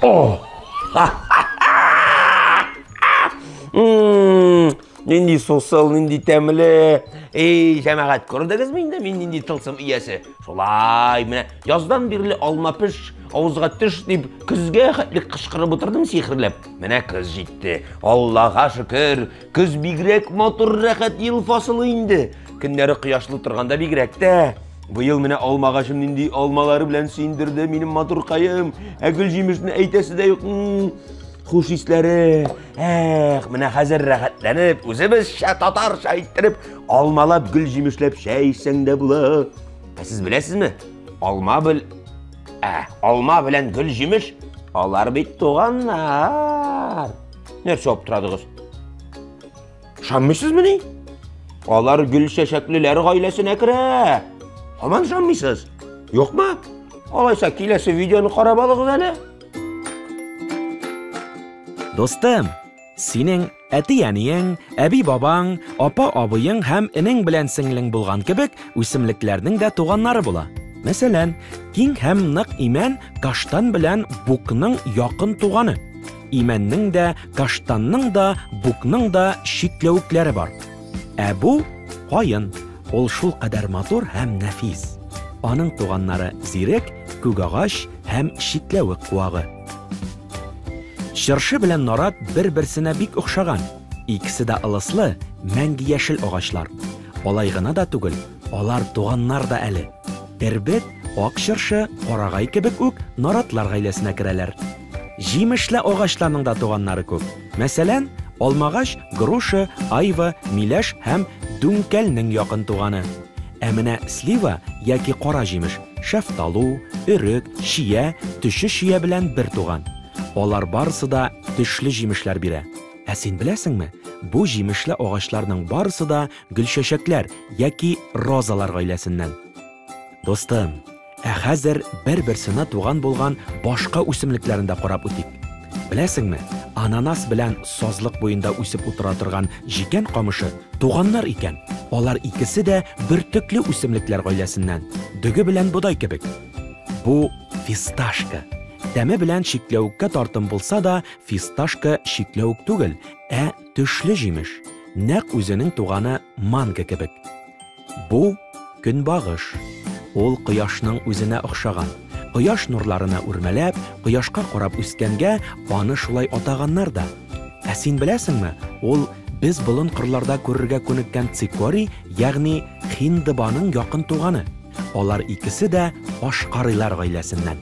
О! Нинди сусыл, нинди тәмле. Эй, жәмәгать, күрдегез мин дә мин нинди тылсым иясе. Шулай, менә яздан бирле алма пеш, авызга төш дип, көзгә хәтле кычкырып утырдым сихрләп. Менә көз җитте. Аллага шөкер, Көз бигрәк матур рәхәт ел фасылы инде. Көннәре кояшлы торганда бигрәк тә. Быел менә алмагачым нинди алмалары белән сөендерде минем матуркаем. Ә гөл җимешне әйтәсе дә юк. Хуш исләре. Эх, менә хәзер рәхәтләнеп, үзебезчә татарча иттереп алмалап гөл җимешләп чәй эчсәң дә була. Ә сез беләсезме? Алма бел Ә, алма белән гөл җимеш алар бит туганнар. Нәрсә аптырадыгыз? Ышанмыйсызмыни? Алар гөл чәчәклеләр гаиләсенә керә. Һаман ышанмыйсыз? Юкмы? Алайса киләсе видеоны карап алыгыз әле. Достым, синең әти-әниең, әби-бабаң, апа-абыең һәм энең белән сеңлең булган кебек үсемлекләрнең дә туганнары була. Мәсәлән, киң һәм нык имән каштан белән букның якын туганы. Имәннең дә, каштанның да, букның да чикләвекләре бар. Ә бу каен. Ул шул кадәр матур һәм нәфис. Аның туганнары зирек, күк агач һәм чикләвек куагы. Чыршы белән нарат бер-берсенә бик охшаган. Икесе дә ылыслы, мәңге яшел агачлар. Алай гына да түгел, алар туганнар да әле. Эрбет, ак чыршы, карагай кебек үк наратлар гаиләсенә керәләр. Җимешле агачларның да туганнары күп. Мәсәлән, алмагач, груша, айва, миләш һәм дүңкәлнең якын туганы. Ә менә слива яки кара җимеш, шәфталу, өрек, чия, төче чия белән бер туган. Алар барысы да төшле җимешләр бирә. Ә син беләсеңме, бу җимешле агачларның барысы да гөлчәчәкләр яки розалар гаиләсеннән. Дустым, ә хәзер бер-берсенә туган булган башка үсемлекләрен дә карап үтик. Беләсеңме, ананас белән сазлык буенда үсеп утыра торган җикән камышы туганнар икән. Алар икесе дә бөртекле үсемлекләр гаиләсеннән, дөге белән бодай кебек. Бу фисташка. Тәме белән чикләвеккә тартым булса да, фисташка чикләвек түгел, ә төшле җимеш. Нәкъ үзенең туганы манго кебек. Бу, көнбагыш. Ул кояшның үзенә охшаган. Кояш нурларына үрмәләп, кояшка карап үскәнгә, аны шулай атаганнар да. Ә син беләсеңме, ул без болын кырларда күрергә күнеккән цикорий, ягъни хиндыбаның якын туганы. Алар икесе дә ашкарыйлар гаиләсеннән.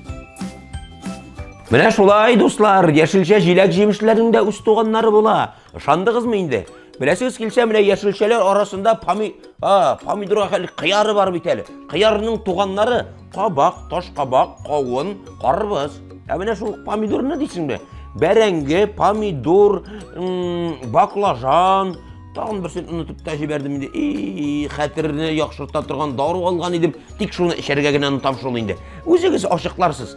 Менә шулай, дуслар, яшелчә-җиләк-җимешләрнең дә үз туганнары була. Ышандыгызмы инде? Беләсегез килсә, менә яшелчәләр арасында поми... а, помидорга хәл кыяры бар бит әле. Кыярның туганнары кабак, таш кабак, кавын, карбыз. Ә менә шул помидорны дисеңме? Бәрәңге, помидор, баклажан, тагын берсен онытып та җибәрдем инде. И, хәтерне яхшырта торган дару алган идем, тик шуны эчәргә генә онытам шул инде. Үзегез ачыкларсыз.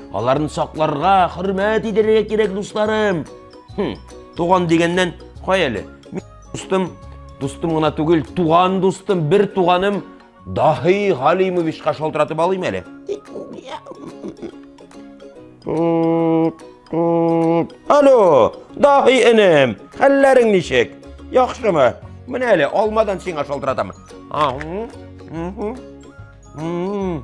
Аларны сакларга, хөрмәт итәргә кирәк, дусларым. Хм, туган дигәннән кай әле? Мин дустым, дустым гына түгел, туган дустым, бер туганым Дахи Галимовичка шалтыратып алыйм әле. Алло, Дахи энем, хәлләрең ничек? Яхшымы? Менә әле алмадан сиңа шалтыратам. Ахм. Ахм.